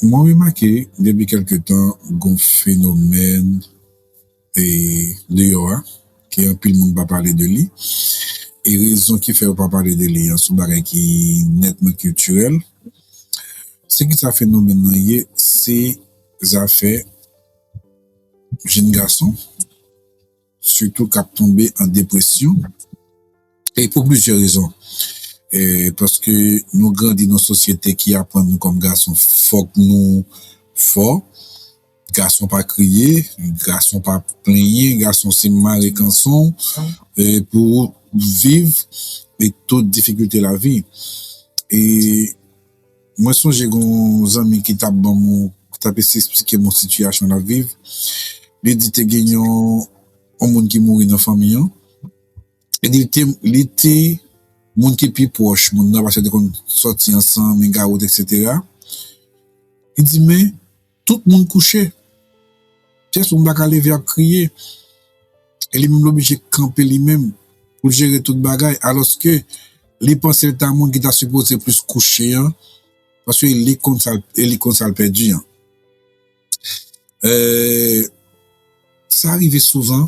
Mwen remake depi kelke tan gon fenomèn deyò a ke anpil moun pa pale de li e rezon ki fè yo pa pale de li an se yon bagay ki nètman kiltirèl. Se kisa fenomèn nan ye? Se zafè jenn gason Sitou k ap tonbe an depresyon e pou plizyè rezon. Paske nou grandi nan yon sosyete ki aprann nou kòm gason fòk nou fò, gason pa kriye, gason pa plenyen, gason se mare kanson w pou w viv tout difikilte lavi. Mwen sonje gen yon zanmi ki tap ban m ki tap esplike m yon sitiyasyon lap viv li di te gen yon yon moun ki mouri nan fanmi an e li te li te moun ki pi pwòch moun nan paske yo te konn sòti ansanm e gawot eksetera li di men Tout moun kouche. Pyès moun pa ka leve ap kriye. E li menm l oblije kanpe li menm pou l jere tout bagay alòske li panse l ta moun ki ta sipoze plis kouche an paske li konn sa l pèdi an. Eee. Sa rive souvan,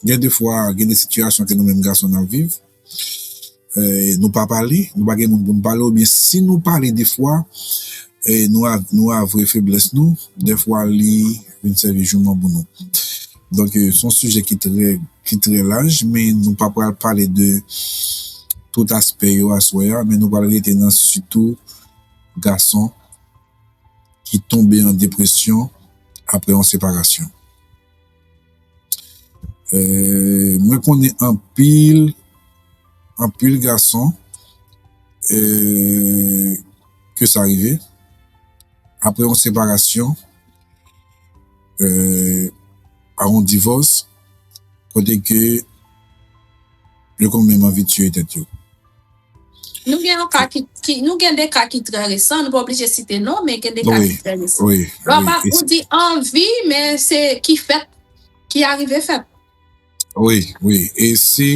gen de fwa gen de sitiyasyon ke nou menm gason nap viv, nou pa pale, nou pa gen moun pou nou pale oubyen si nou pale de fwa nou avwe feblès nou, de fwa li vin sèvi jouman pou nou. Donk son sijè ki trè ki trè laj men nou pa pral pale de tout aspè yo aswè a men nou pral rete nan sitou gason. ki tonbe an depresyon aprè yon separasyon mwen konnen anpil anpil gason ke sa rive aprè yon separasyon a yon divòs kote ke yo konn menm anvi tiye tèt yo. Nou gen yon ka ki, ki, nou gen de ka ki trè resan, nou pa oblije site non, men gen de ka ki trè resan. Wi, wi, wi. Lò pa, ou di anvi, men se ki fèt, ki arive fèt. Wi, wi. E si,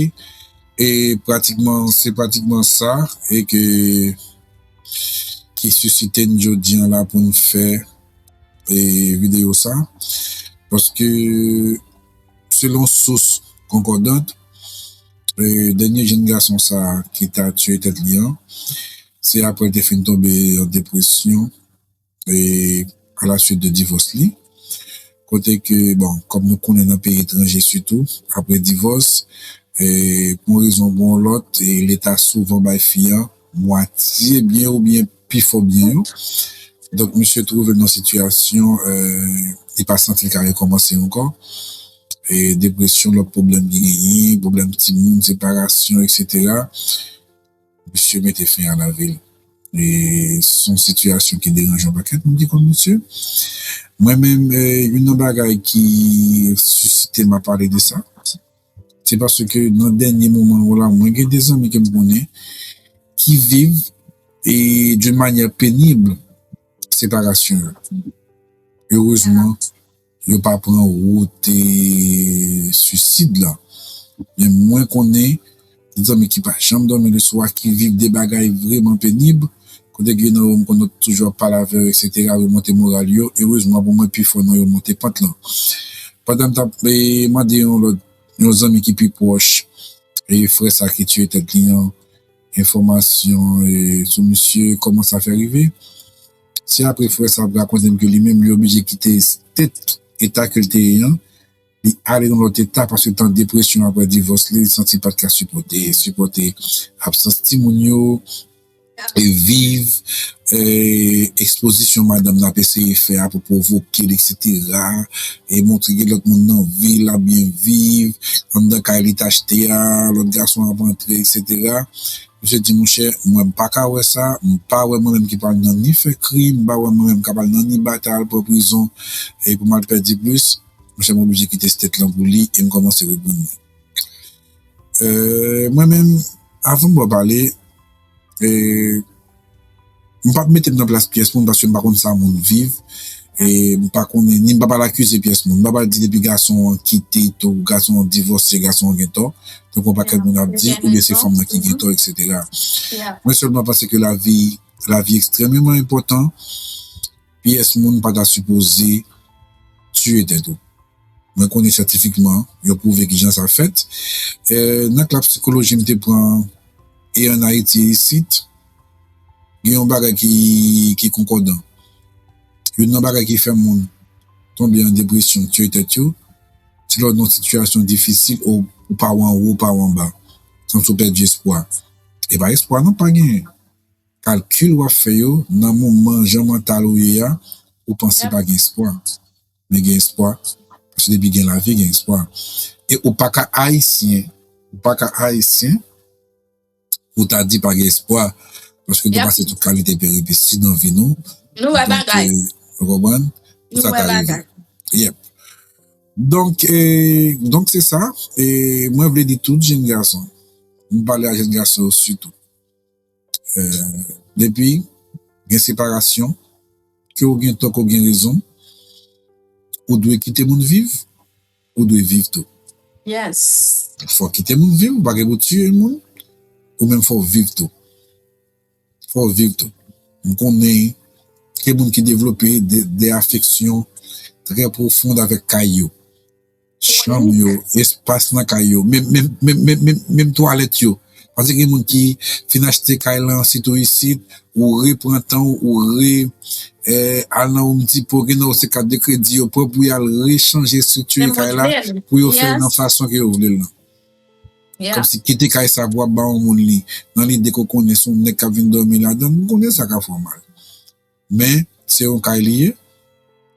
e pratikman, se pratikman sa, e ke, ki sisite n jodi an la pou n fè, e videyo sa. Paske, selon sous konkòdant. Dènye jenn gason sa ki ta tiye tèt li an, se aprè l te fin tonbe an depresyon alasuit de divòs li. Kote ke, bon, kòm nou konnen nan peyi etranje sitou, aprè divòs, pou yon rezon pou yon lòt, leta souvan bay fi an. mwatye byen oubyen pi fò byen yo. Donk misye twouve l nan sitiyasyon li pa santi l ka rekòmanse ankò. Depresyon, lòt pwoblèm li genyen, pwoblèm timoun, separasyon eksetera, misye mete fen a lavi l. Se yon sitiyasyon ki deranje yon pakèt moun ki konn misye. Mwen menm youn nan bagay ki sisite m a pale de sa. Se paske nan dènye moman yo la mwen gen de zanmi ke m konnen ki viv e d'une manière pénible separasyon yo. Erezman yo pa pran wout suicide la men mwen konnen Zanmi ki pa janm dòmi le swa, ki viv de bagay vreman penib, kote gen nan yo m konnen ki toujou ap pale avè yo eksetera, remonte moral yo, erezman pou mwen pifò nan yo monte pant lan. Pandan m t ap mande yon lòt, yon zanmi ki pi pwòch frè sa ki tiye tèt li an, enfòmasyon sou misye, kòman sa fè rive, se apre frè sa ap rakonte m ke li menm li oblije kite state, eta ke l te ye an, Li ale nan lòt eta paske tan depresyon aprè divòs li, li santi l pat ka sipòte sipòte absans timoun yo e viv ekspozisyon madanm nan ap eseye fè a pou pwovoke l eksetera e montre gen lòt moun nan vi l ap byen viv anndan kay li t achte a lòt gason ap antre eksetera Misye di monchè mwen m paka wè sa m pa wè mwen menm ki pral nan ni fè krim m pa wè mwen menm k ap al nan ni batay al pran prizon e pou m al pèdi plis Mwen sèlman oblije kite state lan pou li e m kòmanse wè grann mwen. Mwen menm, avan m ba w pale, m pap mete m nan plas pyès moun paske m pa konn sa moun viv e m pa konnen ni m pap al akize pyès moun. M pap al di depi gason an kite to, gason an divòse, gason an gen tò, tankou yon pakèt moun ap di, oubyen se fanm lan ki gen tò eksetera. Mwen sèlman panse ke lavi, lavi ekstrèmeman enpòtan Pyès moun pa ta sipoze tiye tèt ou. Mwen konnen syantifikman yo pwouve kijan sa fèt. Nan klas psikoloji m te pran e an Ayiti isit, gen yon bagay ki konkòdan. Youn nan bagay ki fè moun tonbe an depresyon, tiye tèt yo, se lè w nan yon sitiyasyon difisil, ou pa w anwo, ou pa w anba. Kòmsi w pèdi espwa. E pa espwa non pa genyen. Kalkil wap fè yo nan moman jan mantal ou ye a ou panse pa gen espwa men gen espwa paske depi gen lavi gen espwa e ou paka ayisyen ou paka ayisyen pou ta di pa gen espwa paske nou pase tout kalite peripesi nan vi nou nou wè bagay ou konprann nou wè bagay yep donk donk se sa mwen vle di tout jenn gason m pale a jenn gason yo sitou. Depi gen separasyon, ke w gen tò ke w gen rezon, ou dwe kite moun viv, ou dwe viv tou. Fò w kite moun viv, ou pa gen pou w tiye moun, ou menm fò w viv tou. Fò w viv tou. M konnen gen moun ki devlope de afeksyon trè pwofond avèk kay yo. Chanm yo, espas nan kay yo, menm twalèt yo. Pase gen moun ki fin achte kay lan, sitou isit, ou repran tan ou, ou re al nan Home Depot, gen nan yo se kat de kredi yo pran pou yal rechanje estriktire kay la pou yo fèl nan fason ke yo vlel lan. Kòmsi kite kay sa pou wap ba yon moun li nan lide ke w konnen se yon nèg kap vin dòmi ladann, m konnen sa ka fè w mal. Men, se yon kay li ye,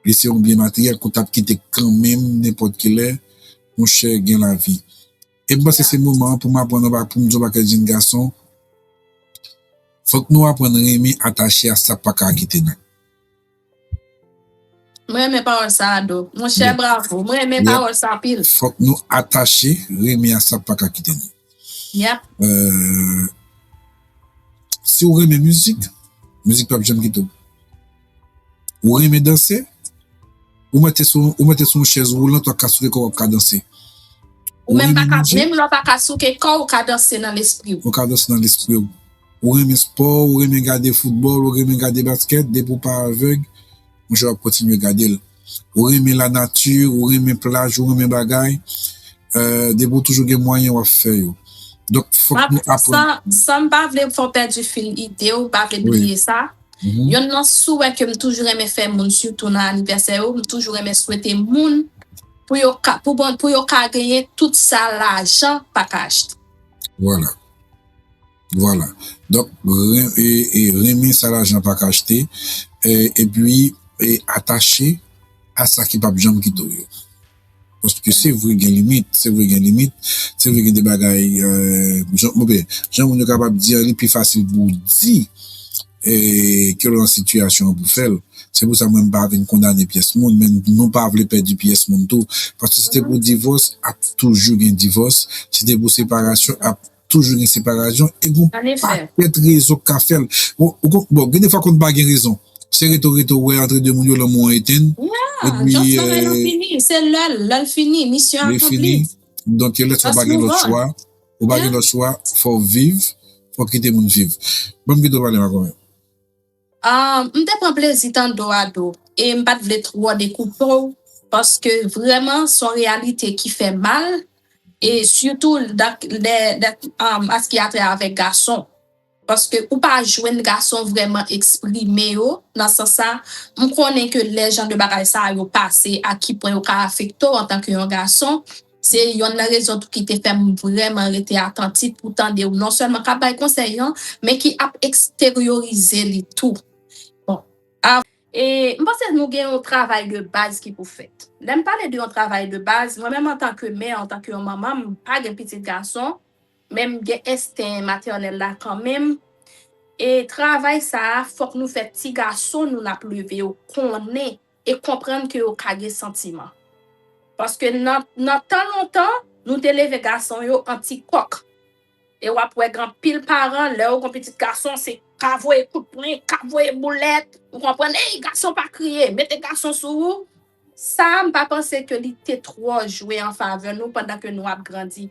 li se yon byen materyèl ke w t ap kite kanmenm nenpòt ki lè, monchè, gen lavi. E m panse se moman an pou m aprann anba, pou m di yon pakèt jenn gason, fòk nou aprann renmen atache a sa k pa ka kite nou. M renmen pawòl sa a, Ado. Monchè, bravo. M renmen pawòl sa anpil. Fòk nou atache, renmen a sa k pa ka kite nou. Yap. Si ou renmen mizik, mizik pap janm kite ou. Ou renmen danse, ou mete sou yon chèz woulant wap ka souke kòw wap ka danse. Ou menm pa ka, menm lè w pa ka souke kòw ou ka danse nan lespri w. Ou ka danse nan lespri w. Ou renmen spò, ou renmen gade foutbòl, ou renmen gade baskèt, depi ou pa avèg, monchè wap kontinye gade l. ou renmen la nati, ou renmen plaj, ou renmen bagay, depi ou toujou gen mwayen w ap fè yo. San m pa vle fè w pèdi fil ide w, m pa vle bliye sa, yonn nan souwè ke m toujou renmen fè moun sitou nan anivèsè yo, m toujou renmen swete moun pou yo ka genyen tout sa lajan pa ka achte. Vwala. Vwala donk renmen sa lajan pa ka achte epi atache a sa ki pap janm kite w yo paske se vre gen limit se vre gen limit se vre gen de bagay jan moun yo kapab di an li pi fasil pou w di ke w lan sitiyasyon an pou w fè l se pou sa mwen m pa vin kondane pyès moun men nou pa vle pèdi pyès moun tou paske se te pou divòs ap toujou gen divòs se te pou separasyon ap Toujou gen separazyon e gon pakèt rezon k ka fè l. Bon, gen defwa konn pa gen rezon. Se rete w rete w wè antre 2 moun yo lanmou an etenn. Ya! Jòs travay lan fini. Se lè l. Lè l fini. Misyon akonpli. Li fini. Donk lè sa w pa gen lòt chwa. Ou pa gen lòt chwa. Fò w viv. Fò w kite moun viv. Ban m kite w pale Makomè. M te pran plezi tande w Ado e m pa t vle twò dekoupe w paske vrèman s on reyalite ki fè mal e sitou nan sa ki atè avèk gason paske ou pa jwenn gason vrèman eksprime yo nan sans sa m konnen ke lè jan de bagay sa yo pase a ki pwen yo ka afekte w antanke yon gason. Se yonn nan rezon tou ki te fè m vrèman rete atantif pou tande ou non sèlman k ap bay konsèy an, men ki ap eksteryorize li tou. Bon, a. E, m panse nou gen yon travay de baz ki pou fèt. Lè m pale de yon travay de baz, mwen menm antanke mè, antanke yon manman, m pa gen pitit gason, men m gen ensten matènèl la kanmenm, e travay sa a fòk nou fè ti gason nou n ap leve yo konnen. e konprann ke yo ka gen santiman. Paske nan tan lontan, nou te leve gason yo an ti kòk. E w ap wè gen anpil paran, lè yo gen yon pitit gason, se ka voye kout pwen, ka voye boulèt, ou konprann, Ey, gason pa kriye, mete gason sou ou! Sa a, m pa panse ke li te twò jwe an favè nou pandan ke nou ap grandi.